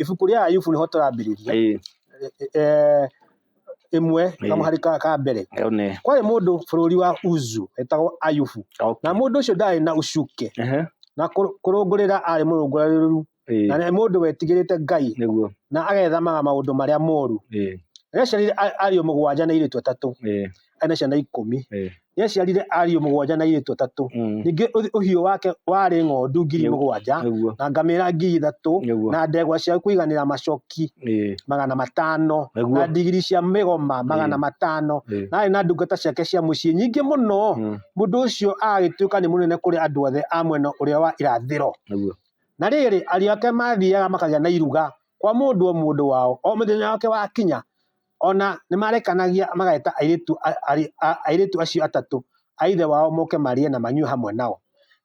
ibuku rĩa ayubu nĩho tũrambĩrĩria Ĩĩ, eh, ĩmwe Ĩĩ. kamwe harĩ ka ka mbere ĩyo nĩ kwarĩ mũndũ bũrũri wa uzu etagwo ayubu na okay. mũndũ ũcio ndarĩ na ucuke Ehe, na kũ- kũrũngũrĩra arĩ mũrũngũrĩrĩru ĩĩ, na nĩ mũndũ wetigĩrĩte ngai nĩguo na agethamaga maũndũ marĩa moru ĩĩ, rĩaciarire a- ariũ mũgwanja na airĩtu atatũ ĩĩ, arĩ na ciana ikũmi ĩĩ, nĩ aciarire ariũ mũgwanja na airĩtu atatũ Mm. ningĩ ũthi- ũhiũ wake warĩ ng'ondu ngiri Nĩguo. mũgwanja Nĩguo. na ngamĩra ngiri ithatũ Nĩguo. na ndegwa cia kũiganĩra macoki Ĩĩ. magana matano Nĩguo. na ndigiri cia mĩgoma magana Ĩĩ. matano Ĩĩ. na arĩ na ndungata ciake cia mũciĩ nyingĩ mũno Mm. mũndũ ũcio agagĩtuĩka nĩ mũnene kũrĩ andũ othe a mwena ũrĩa wa irathĩro Nĩguo. na rĩrĩ ariũ ake mathiaga makagĩa na iruga kwa mũndũ o mũndũ wao o mũthenya wake wakinya Ona nĩmarekanagia mageta airĩtu acio atatũ a ithe wao moke marĩe na manyue hamwe nao.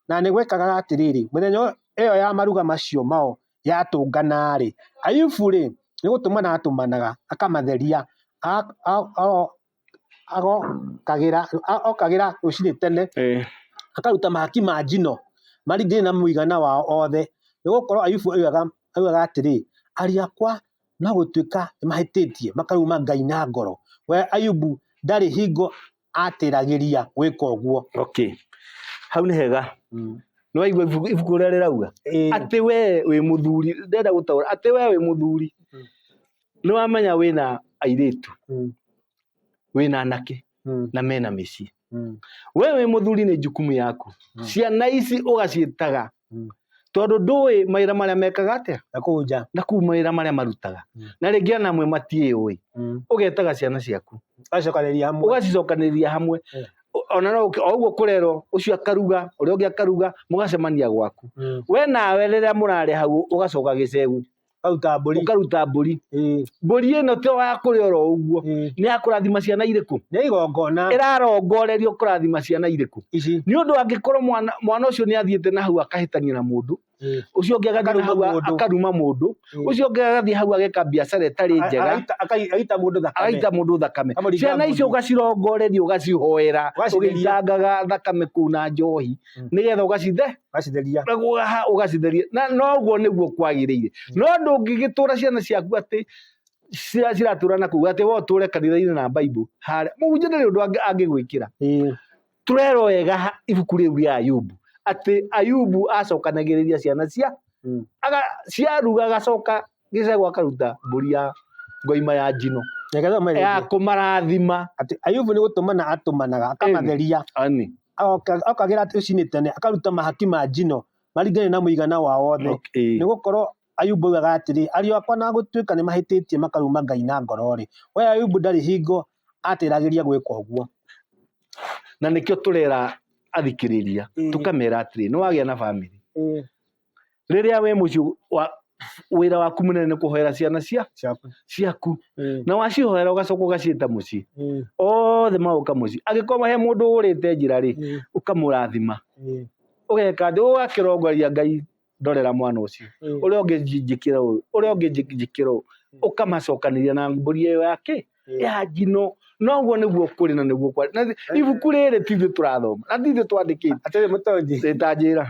Na nĩgwekaga atĩrĩrĩ, mĩthenya ĩyo ya maruga macio mao yatũngana-rĩ, Ayubu-rĩ, nĩgũtũmana atũmanaga, akamatheria, okagĩra rũcinĩ tene, akaruta mahaki ma njino maringanaine na mũigana wao othe, nĩgũkorwo Ayubu oigaga atĩrĩ, Ariũ akwa No gũtuĩka nĩmahĩtĩtie makaruma Ngai na ngoro. We Ayubu ndarĩ hingo atĩragĩria gwĩka ũguo. Okay. Hau nĩ hega. Mm. Nĩwaigua ibuku ũrĩa rĩrauga? Atĩ we wĩ mũthuri, ndĩrenda gũtaũra, atĩ we wĩ mũthuri. Mm. Nĩwamenya wĩna airĩtu. Mm. Wĩna anake. Mm. na mena mĩciĩ Mm. we wĩ mũthuri nĩ jukumu yaku Mm. ciana ici ũgaciĩtaga Mm. tondũ ndũĩ mawĩra marĩa mekaga atĩa Na kũu nja. na kuu mawĩra marĩa marutaga Mm. na rĩngĩ ona amwe matiĩũĩ Mm. ũgetaga ciana ciaku Agacokanĩrĩria hamwe. ũgacicokanĩrĩria hamwe Mm. O- ona no ũke- o ũguo kũrerwo ũcio akaruga ũrĩa ũngĩ akaruga mũgacemania gwaku Mm. we nawe rĩrĩa mũrarĩ hau ũgacoka gĩcegu Ũkaruta mbũri. ũkaruta mbũri Ĩĩ, mbũri ĩno to ya kũrĩa oro ũguo ĩĩ. nĩ ya kũrathima ciana irĩkũ Nĩ igongona ĩrarongorerio kũrathima ciana irĩkũ ici. nĩ ũndũ angĩkorwo mwana mwana ũcio nĩ athiĩte na hau akahĩtania na mũndũ Ĩĩ. ũcio ũngĩ agathiĩ na Akaruma hau a- mũndũ. akaruma mũndũ Ĩĩ. ũcio ũngĩ agathiĩ hau ageka biacara ĩtarĩ A- njega agaita- akai- Agaita mũndũ thakame. agaita mũndũ thakame Akamũringa ciana icio mũndũ. ũgacirongoreria ũgacihoera Ũgacithĩria. ũgĩitangaga thakame kũu na njohi Mm. nĩgetha ũgacithe gacitheria na gũgaha ũgacitheria na noguo nĩguo kwagĩrĩire no ndũngĩgĩtũra ciana ciaku atĩ cira- ciratũra na kuga atĩ we ũtũre kanitha-inĩ na baibũ harĩa mũhunjia ndarĩ ũndũ angĩ- angĩgwĩkĩra Ĩĩ. tũrerwo wega ha- ibuku rĩu rĩa ayubu atĩ ayubu acokanagĩrĩria ciana cia Mm. aga- ciaruga agacoka gĩcegũ akaruta mbũri ya ngoima ya njino Reke thoma ya rĩngĩ. kũmarathima Atĩ Ayubu nĩ gũtũmana atũmanaga, akamatheria, ani agoka- okagĩra atĩ rũcinĩ tene, akaruta mahaki ma njino maringane na mũigana wa wothe. okay. Nĩ gũkorwo Ayubu augaga atĩrĩ, ariũ akwa na gũtuĩka nĩ mahĩtĩtie makaruma Ngai na ngoro-rĩ, we Ayubu ndarĩ hingo atĩragĩria gwĩka ũguo. na nĩkĩo tũrera athikĩrĩria Mm. tũkamera atĩrĩ nĩ wagĩa na bamĩrĩ rĩrĩa we mũciĩ wa wĩra waku mũnene nĩ kũhoera ciana cia ciaku ciaku Eh, na wacihoera ũgacoka ũgaciĩta mũciĩ eh, othe maũka mũciĩ angĩkorwo he mũndũ ũrĩte njĩra rĩ eh, ũkamũrathima eh, ũgeka thĩ ũgakĩrongoria ngai ndorera mwana ũcio eh. ũrĩa ũngĩ njĩkĩra ũũ ũrĩa ũngĩ njĩ- njĩkĩra ũũ ũkamacokanĩria na mbũri ĩyo yake ya njino noguo nĩguo kũrĩ na nĩguo kwarĩ na ibuku rĩrĩ ti ithuĩ tũrathoma na ti ithuĩ twandĩkĩte atarĩ mũtonyi ĩtanjĩra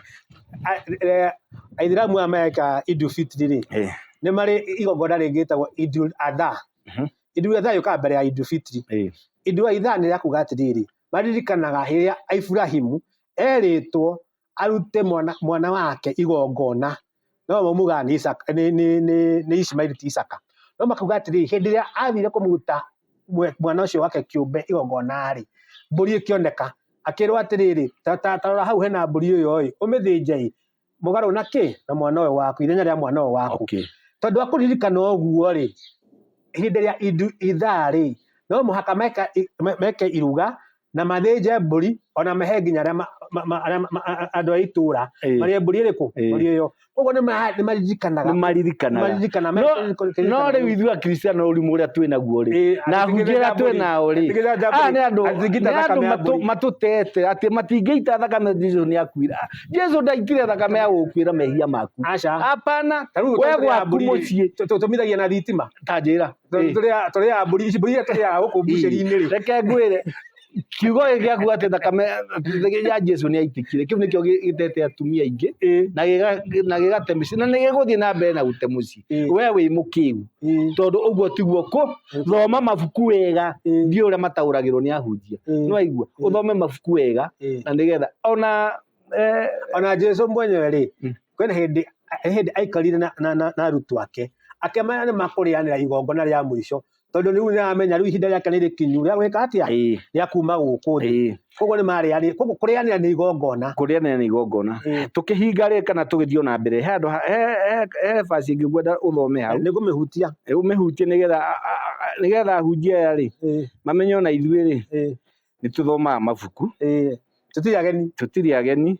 A- eh, aithiramu aya meka idu fitri rĩ Eh, nĩ marĩ igongona rĩngĩ ĩtagwo idul adha Mhm. idul adha yũkaga mbere ya idu fitri eh, idul adha nĩ yakuga atĩrĩrĩ maririkanaga hĩrĩa aiburahimu erĩtwo arute mwana, mwana wake igongona no mamugaga nĩ Isaka nĩ nĩ nĩ nĩ Ishmaeli ti Isaka no makauga atĩrĩ hĩndĩ ĩrĩa athire kũmũruta mwe- mwana ũcio wake kĩũmbe igongona-rĩ mbũri ĩkĩoneka akĩrwo atĩrĩrĩ ta- ta- tarora hau hena mbũri ĩyo-ĩ ũmĩthĩnje-ĩ mũgarũ na kĩ na mwana ũyũ waku ithenya rĩa mwana ũyũ waku okay tondũ akũririkana ũguo-rĩ hĩndĩ ĩrĩa indu ithaa-rĩ no mũhaka meka, i- me- meke iruga na mathĩnje mbũri ona mahe nginya arĩa ma- ma- ma- arĩa ma- ma- a- andũ a itũũra Ĩĩ. marĩe mbũri ĩrĩkũ Ĩĩ. mbũri ĩyo koguo nĩ ma- nĩ maririkanaga nĩ maririkanaga maririkana No- no rĩu ithuĩ akristiano ũrimũ ũrĩa twĩ naguo rĩ na hunjĩra twĩ nao rĩ aya nĩ andũ nĩ andũ matũ- matũtete atĩ matingĩita thakame jesu nĩ akuira jesu ndaitire thakame ya gũkuĩra mehia maku aca hapana we gwaku mũciĩ tũtumithagia na thitima ta njĩra Ĩĩ. tũrĩaga mbũri ici mbũri iria tũrĩaga gũkũ mbucĩri-inĩ rĩ reke ngwĩre kiugo gĩkĩ gĩaku atĩ thakame ya jesu nĩ yaitĩkire kĩu nĩkĩo gĩ- gĩtete atumia aingĩ Ĩĩ. na gĩga- na gĩgate mĩciĩ na nĩ gĩgũthiĩ na mbere na gũte mũciĩ Ĩĩ. we wĩ mũkĩu Ĩĩ. tondũ ũguo tiguo kũ thoma mabuku wega Ĩĩ. ndiũ ũrĩa mataũragĩrwo nĩ ahunjia Ĩĩ. nĩ waigua Ĩĩ. ũthome mabuku wega Ĩĩ. na nĩgetha ona eh, ona jesu mwenyewe rĩ Mm. Kwĩna hĩndĩ hĩndĩ aikarire na, na, na, na arutwo ake akĩmera nĩ makũrĩanĩra igongona rĩa mũico tondũ rĩu nĩ aramenya rĩu ihinda rĩake nĩ rĩkinyu rĩa gwĩka atĩa Ĩĩ, rĩa kuma gũkũ thĩ ĩĩ. koguo nĩ marĩanĩra koguo kũrĩanĩra nĩ igongona kũrĩanĩra nĩ igongona Ĩĩ. tũkĩhinga rĩ kana tũgĩthiĩ na mbere he andũ ha- he- he- he basi ĩngĩ ngwenda ũthome hau nĩ kũmĩhutia ũmĩhutie nĩgetha a- a- a- nĩgetha ahunjia aya rĩ Ĩĩ, mamenye ona ithuĩ rĩ ĩĩ. nĩ tũthomaga mabuku ĩĩ tũtirĩ ageni tũtirĩ ageni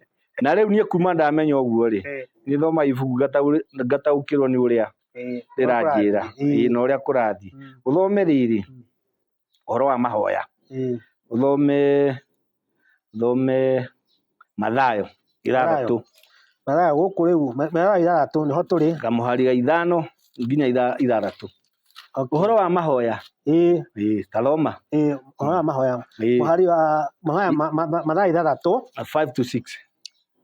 na rĩu niĩ kuma ndamenya ũguo rĩ Ĩĩ. nĩ thomaga ibuku ngataũ- ngataũkĩrwo nĩ ũrĩa Ĩĩ. rĩranjĩra Ĩĩ. ĩĩ, na ũrĩa kũrathiĩ Mm. ũthome rĩrĩ Mm. ũhoro wa mahoya Ĩĩ. ũthome thome Mathayo ithathatũ mathayo gũkũ rĩu ma- mathayo ithathatũ nĩho tũrĩ kamuhari ga ithano nginya itha- ithathatũ Okay. ũhoro wa mahoya ĩĩ ĩĩ, taroma ĩĩ ũhoro wa mahoya ĩĩ, mũhari wa mahoya ma- ma- ma- mathayo ithathatũ five to six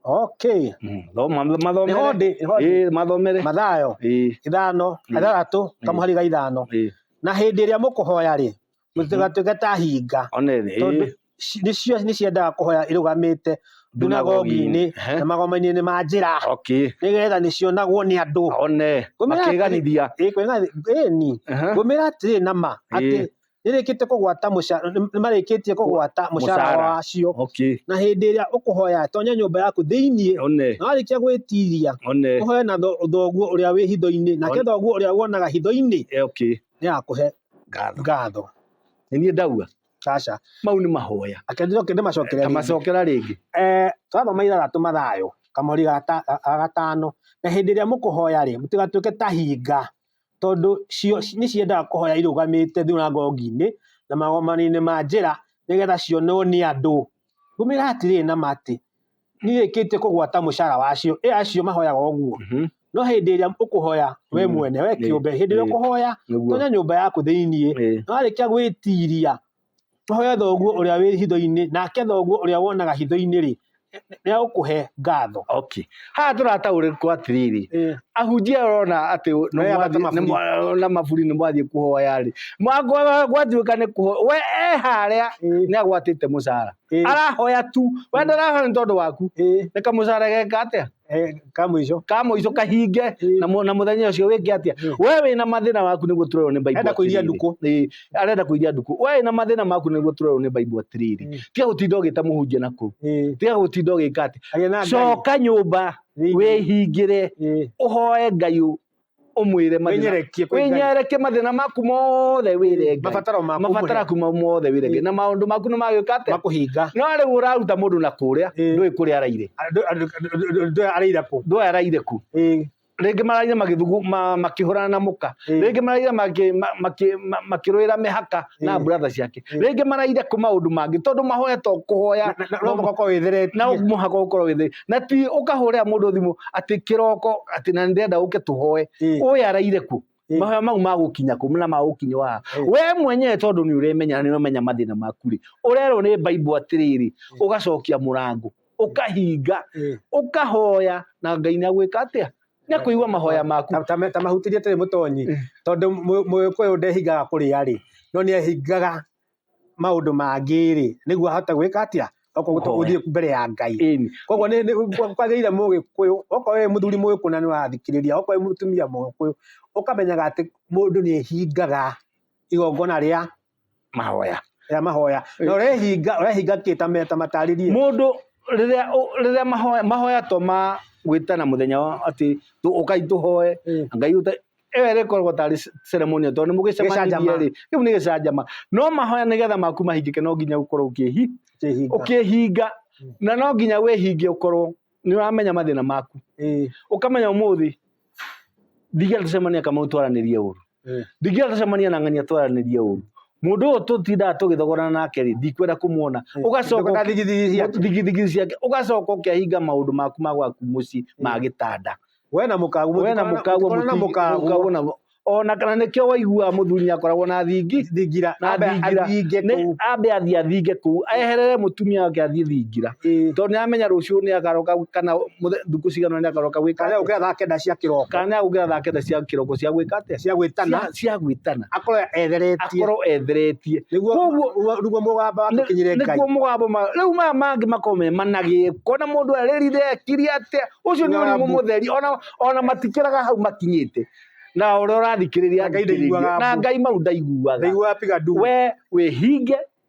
okay Mhm. Thoma- nĩho mathomere ndĩ nĩho ndĩ Ĩĩ, mathomere mathayo Ĩĩ, ithano Mm. ithathatũ Mm. kamuhari ga ithano ĩĩ. na hĩndĩ ĩrĩa mũkũhoya-rĩ mũtigatwĩke ta hinga one thĩ tondũ ci- nĩcio nĩciendaga kũhoya irũgamĩte ndunagogi-inĩ Ehe. na magoma-inĩ ma njĩra okay nĩgetha nĩcionagwo nĩ andũ one Gũmĩra atĩrĩ- makeganithia Ĩ, kwĩna- ĩ, ni Aha. ngũmĩra atĩrĩ na ma atĩ Ĩ. nĩrĩkĩte kũgwata mũca- nĩ- nĩmarĩkĩtie kũgwata mũcara Mũcara. wacio okay na hĩndĩ ĩrĩa ũkũhoya tonya nyũmba yaku thĩinĩ one na warĩkia gwĩtiria one ũhoe na tho- thoguo ũrĩa wĩ hitho-inĩ nake Ona- thoguo ũrĩa wonaga hitho-inĩ Eh, okay nĩ agakũhe ngatho ngatho nĩ niĩ ndaua aca mau nĩ mahoya akenjire kĩndĩ macokere tamacokera rĩngĩ eh twathoma ithathatũ mathayo kamori ga ta- ga- ga gatano na hĩndĩ ĩrĩa mũkũhoya rĩ mũtigatuĩke ta hinga tondũ cio ci- nĩ ciendaga kũhoya irũgamĩte thunagogi-inĩ na magomano-inĩ ma njĩra nĩgetha cionwo nĩ andũ ngũmĩra atĩrĩrĩ na ma atĩ nĩrĩkĩtie kũgwata mũcara wacio ĩ acio mahoyaga ũguo Mhm. no hĩndĩ ĩrĩa ũkũhoya we Mm. mwene we Ĩ, kĩũmbe hĩndĩ ĩrĩa ĩ. ũkũhoya Nĩguo. tonya nyũmba yaku thĩiniĩ Ĩ. na warĩkia gwĩtiria ũhoye thoguo ũrĩa wĩ hitho-inĩ nake thoguo ũrĩa wonaga hitho-inĩ rĩ nĩagũkũhe ngatho okay haha tũrataũrĩkwo atĩrĩrĩ Ĩ, ahunjia arona atĩ nĩ Mareyambata mwathiĩ- nĩ maburi. mwa- na maburi nĩ mwathiĩ kũhoya rĩ Mwa- gwa- gwatuĩka nĩ kũho we e harĩa ĩ. nĩ agwatĩte mũcara Eh. arahoya tu we mm. ndarahoya nĩ tondũ waku eh. nĩ kamũcara geka atĩa eh, ka mũico ka mũico kahinge na mũthenya ũcio wĩke atĩa we wĩ na mathĩna waku nĩguo tũrerwo nĩ Bible arenda kũiria ndukũ arenda kũiria ndukũ we wĩ na mathĩna maku nĩguo tũrerwo nĩ Bible atĩrĩrĩ mm. tiga gũtinda ũgĩta mũhunjia na kũu tiga gũtinda ũgĩka atĩ coka nyũmba wĩhingĩre ũhoe Ngai ũmwĩre mathĩna- Wĩnyerekie kwĩ Ngai. wĩnyerekie mathĩna maku mothe wĩre Ngai. Mabataro maku mabataro ũmũhe. aku ma- mothe wĩre Ngai. na maũndũ maku nĩ magĩũka atĩa makũhinga no rĩu ũraruta mũndũ na kũrĩa Ĩĩ. ndũĩ kũrĩa araire Andũ- andũ- andũ- andũ aya araira kũ ndũĩ araire ku Ĩĩ. rĩngĩ maraire magĩthugu ma- makĩhũrana na mũka Ĩĩ. rĩngĩ maraire makĩ- ma- makĩ- ma- makĩrũĩra mĩhaka na Mm. brother ciake Mm. rĩngĩ maraire kũ maũndũ mangĩ tondũ mahoya to kũhoya Na- na- no mũhaka wĩtheretie na mũhaka ũkorwo wĩthĩ na ti ũkahũrĩra mũndũ thimũ atĩ kĩroko atĩ na ndĩrenda ũke tũhoe Mm. ũyũ araire kuo Mm. mahoya mau magũkinya kũ na magũkinya waha Mm. we mwenyewe tondũ nĩ ũremenya na nĩ ũremenya mathĩna maku rĩ ũrerwo nĩ baibo atĩrĩrĩ ũgacokia mũrango ũkahinga Eh. ũkahoya na ngai nĩ agwĩka atĩa nĩ akũigua mahoya maku Ta- ta- ta mahuti rĩtarĩ mũtonyi Mm. tondũ mũ- mũgĩkũyũ ndehingaga kũrĩa rĩ no nĩ ehingaga maũndũ mangĩ rĩ nĩguo ahote gwĩka atĩa okorwo Kũhoya. gũthiĩ mbere ya ngai Ĩni. koguo nĩ- nĩ- kwagĩrĩire mũgĩkũyũ okorwo wĩ mũthuri mũgĩkũyũ na nĩ ũrathikĩrĩria okorwo wĩ mũtumia mũgĩkũyũ ũkamenyaga atĩ mũndũ nĩ ehingaga igongona rĩa mahoya ya mahoya na ũrehinga ũrehinga kĩ ta me- ta matarĩrie mũndũ rĩrĩa ũ- rĩrĩa mahoya mahoya to ma gwĩtana mũthenya wa atĩ tũ- ũkai tũhoe Mm. ngai ũta ĩyo ĩrĩkoragwo tarĩ c- ceremony tondũ nĩ mũgĩcemanirie Gĩcanjama. rĩ kĩu nĩ gĩcanjama no mahoya nĩgetha maku mahingĩke no nginya ũkorwo ũkĩhi Kĩhinga. ũkĩhinga na no nginya wĩhinge ũkorwo nĩ ũramenya mathĩna maku Ĩĩ. ũkamenya ũmũthĩ ndiga tũcemania kamau twaranĩrie ũru eh. ndingĩenda tũcemania na ng'ania twaranĩrie ũru mundu uyu tutindaga tugithogorana nake ri ndikwenda kumuona eh, ugacoka na thigithigi ciake ugacoka ukiahinga maundu maku ma gwaku mucii eh. ma gitanda we na mukagu we na mukagu na mukagu na ona kana nikio waigua muthuri nyakoragwo na thingi thingira na thingira ni ambe athi athinge kuu eherere mutumia wake athi thingira eh. tondu ni amenya ruciu ni akaroka kana muthe- thukũ cigana nĩ akaroka gwĩka kana atĩa? gũkĩra thaa kenda cia kĩroko kana nĩ agũkĩra thaa kenda cia kĩroko cia gwĩka atĩa cia gwĩtana Cia- cia gwĩtana akorwo etheretie akorwo etheretie nĩguo Koguo- nĩguo- nĩguo mũgamba wake kinyire ngai nĩkuo mũgambo ma rĩu maya mangĩ makomemanagĩ kona mũndũ arĩrire ekiri atĩa ũcio nĩ Ng'ambu. ũrimũ mũtheri ona ona matikĩraga hau makinyĩte na ũrĩa ũrathikĩrĩria Na Ngai ndaiguaga athikĩrĩrie. na mbu. ngai mau ndaiguaga ndaiguaga piga ndugu we wĩhinge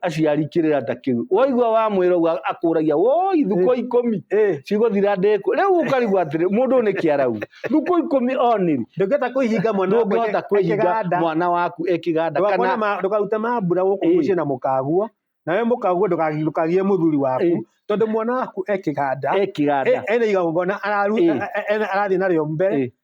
aciari kirĩrata kiu waigua wa mwira uga akuragia woi thuko ikumi cigothira ndeku riu ukarigwa atiri mundu ni kiarau thuko ikumi oniru ndungihota kuihinga mwana waku ndungihota kuihinga mwana waku ekiganda kana ndukarute mambura guku mucii na mukaguo nawe mukaguo ndukagie muthuri waku tondu mwana waku ekiganda ekiganda ena igongona arathii nario mbere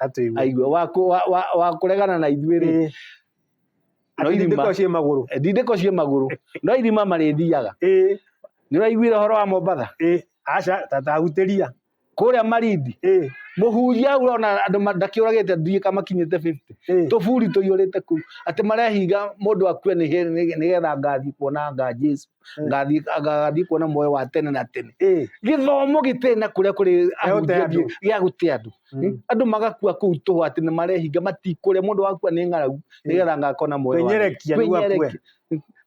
atũigua aigua wa kũ- wa- wa- wa kũregana na ithuĩ rĩ Ĩĩ. No Atĩ irima. ndĩko ciĩ magũrũ ndindĩko ciĩ magũrũ no irima marĩthiaga Ĩĩ, nĩ ũraiguire ũhoro wa mombatha ĩĩ. aca tatahutĩria kũrĩa marindi Ĩĩ, mũhunjia hau ũrona andũ ma- ndakĩũragĩte ndirika makinyĩte 50 ĩĩ. tũburi tũiyũrĩte kũu atĩ marehinga mũndũ akue nĩ nĩ- nĩgetha ngathi kuona nga jesu Mm. ngathiĩ ngathiĩ kuona muoyo wa tene na tene Eh, gĩthomo gĩtirĩ na kũrĩa kũrĩ Gĩa gũte ahunjia andũ. thiĩ- gĩa gũte andũ Mm. andũ magakua kũu tũhũ atĩ nĩ marehinga matikũrĩa mũndũ wakua nĩ ng'aragu nĩgetha ngakona muoyo wa Kwĩnyerekia rĩu akue. Kwĩnyerekia.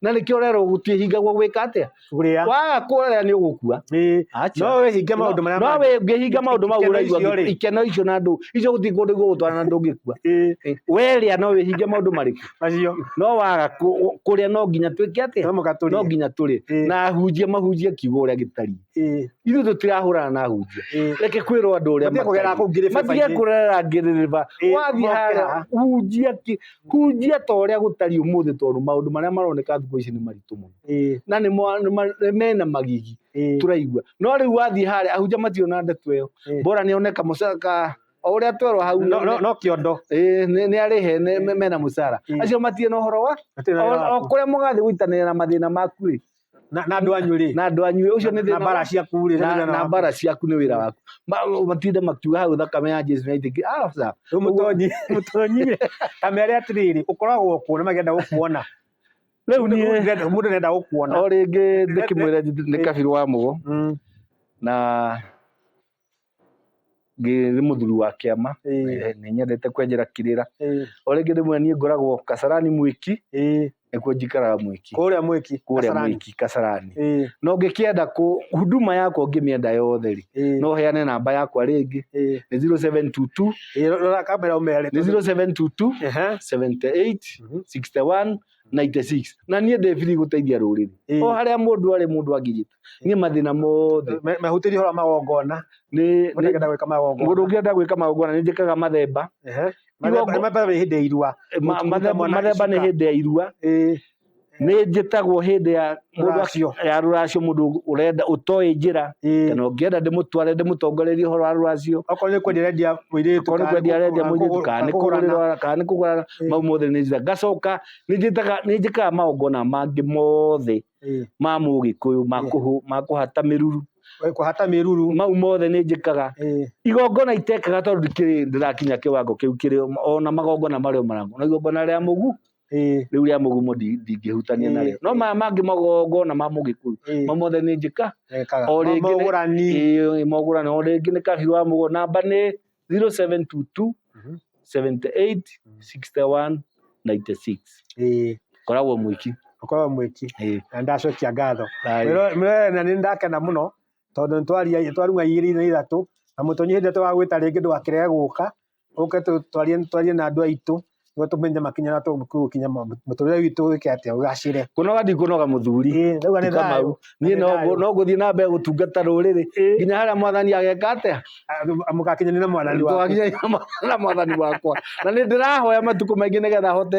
na nĩkĩo rero gũtiĩhingagwo gwĩka atĩa Kũrĩa. waga kũrĩa nĩ ũgũkua Eh, Acha. no wĩhinge maũndũ marĩa no mangĩ. wĩ- ngĩhinga maũndũ mau Ikeno ũraigua icio rĩ. ikeno icio na ndũ icio gũthiĩ kũndũ igũgũtwara na ndũngĩkua Eh, Eh, werĩa no wĩhinge maũndũ marĩkũ macio no waga kũ- kũrĩa no nginya twĩke no atĩa no mũgatũria nginya tũrĩ Ĩĩ. na ahunjia mahunjie kiugo ũrĩa gĩtariĩ ĩĩ ithuĩ tũtirahũrana na ahunjia ĩĩ reke kwĩrwo andũ ũrĩa Matige kũgerera matariĩ. kũu ngĩrĩba-inĩ. matige kũrera ngĩrĩrĩba Ĩĩ, wathiĩ harĩa mokĩra. hunjia ki- hunjia ta ũrĩa gũtariĩ ũmũthĩ tondũ maũndũ marĩa maroneka thikũ ici nĩ maritũ mũno ĩĩ na nĩ mo- nĩ ma- nĩ mena magigi ĩĩ tũraigua no rĩu wathiĩ harĩa ahunjia matirĩ na ndeto ĩyo Ĩĩ. bora nĩone kamũca ka o ũrĩa twerwo hau No- no- no kĩondo Ĩĩ, nĩ nĩ arĩ he nĩ- me- mena mũcara Mm. acio matirĩ na ũhoro wa Hatirĩ na o wĩra o waku. kũrĩa mũgathiĩ gũitanĩra na mathĩna maku rĩ na na andũ anyu rĩ na andũ anyu ũcio nĩ na thĩna mbara wa- ciaku rĩ na- na na mbara ciaku nĩ wĩra waku Ma- matinde makiuga hau thakame ya jesu naitĩki mũtonyi mũtonyi kamere atĩrĩrĩ ũkoragwo kuo na magenda gũkuona rĩu niĩ Ndĩrenda- mũndũ nenda gũkuona o rĩngĩ ndĩkĩmwĩra nĩ kabirũ wa mũgo Mm. na ngĩ- nĩ mũthuri wa kĩama Ĩĩ, Eh, nĩ nyendete kwenjera kĩrĩra ĩĩ, o rĩngĩ rĩmwe niĩ ngoragwo kasarani mwĩki ĩĩ. nĩkuo njikaraga mwĩki kũrĩa mwĩki kũrĩa Kasarani. mwĩki kasarani Ĩĩ, no ngĩkĩenda kũ huduma yakwa ngĩmĩenda yothe rĩ ĩĩ, no heane namba yakwa rĩngĩ ĩĩ. nĩ 0722 Ĩĩ, rora kamera ũmere nĩ 0722 Ehe. 78 Mhm. 61 96 na niĩ ndĩ biri gũteithia rũrĩrĩ Ĩĩ. o harĩa mũndũ arĩ mũndũ angĩnyita niĩ mathĩna mothe Me- mehutĩrie horo magongona nĩ nĩ- ũtengenda gwĩka magongona mũndũ ũngĩenda gwĩka magongona nĩ njĩkaga mathemba Ehe. Mathemba- Igongo- mathemba nĩ hĩndĩ ya irua Ma- Gũtungata mathemba mwana mathemba nĩ icuka. hĩndĩ ya irua Ĩĩ. nĩ njĩtagwo hĩndĩ ya Mũndũ rũracio. acio ya rũracio mũndũ ũrenda ũtoĩ njĩra Ĩĩ. kana ũngĩenda ndĩmũtware ndĩmũtongorerie ũhoro wa rũracio okorwo nĩ kwendia arendia mũirĩtu korwo nĩ kwendia arendia mũirĩtu kana nĩ kũgũrĩra kana nĩ kũgũrana Ĩĩ. mau mothe nĩ njĩra ngacoka nĩ njĩtaga nĩ njĩkaga magongona mangĩ mothe ma mũgĩkũyũ ma Ĩĩ. kũhũ- ma kũhata mĩruru kũhata mĩruru mau mothe nĩ njĩkaga Ĩĩ. igongona itekaga tondũ ndikĩrĩ ndĩrakinya kĩwango kĩu kĩrĩ ona magongona marĩa marangu na igongona rĩa mũgu Ĩĩ, rĩu rĩa mũgumo ndi- ndingĩhutania Ĩĩ. narĩo no maya mangĩ magongona ma mũgĩkũyũ ĩĩ, mo mothe nĩ njĩka ekaga. O rĩngĩ nĩ- Mogũrani. Ĩĩ, mogũrani o rĩngĩ nĩ kabiũ wa mũgũnda namba nĩ 0722 Mhm. 78 61 96 Ĩĩ, koragwo mwĩki ũkorwo mwĩki. Ĩĩ. Na ndacokia ngatho. Aye. Mwĩro- mwĩrorere na nĩ ndakena mũno tondũ nĩ twaria- twarung'a igĩrĩ na ithatũ na mũtonyi hĩndĩ ĩrĩa twagwĩta rĩngĩ ndũgakĩrege gũka ũke twarie twarie na andũ aitũ nĩguo tũmenye makinya na tũgũkinya mũtũrĩre witũ wĩke atĩa ũgacĩre kũnoga ndikũnoga mũthuri ndauga nĩ thayũ niĩ no ngũthiĩ na mbere gũtungata rũrĩrĩ nginya harĩa mwathani ageka atĩa mũgakinyanĩra na mwathani wakwa na nĩ ndĩrahoya matukũ maingĩ nĩgetha hote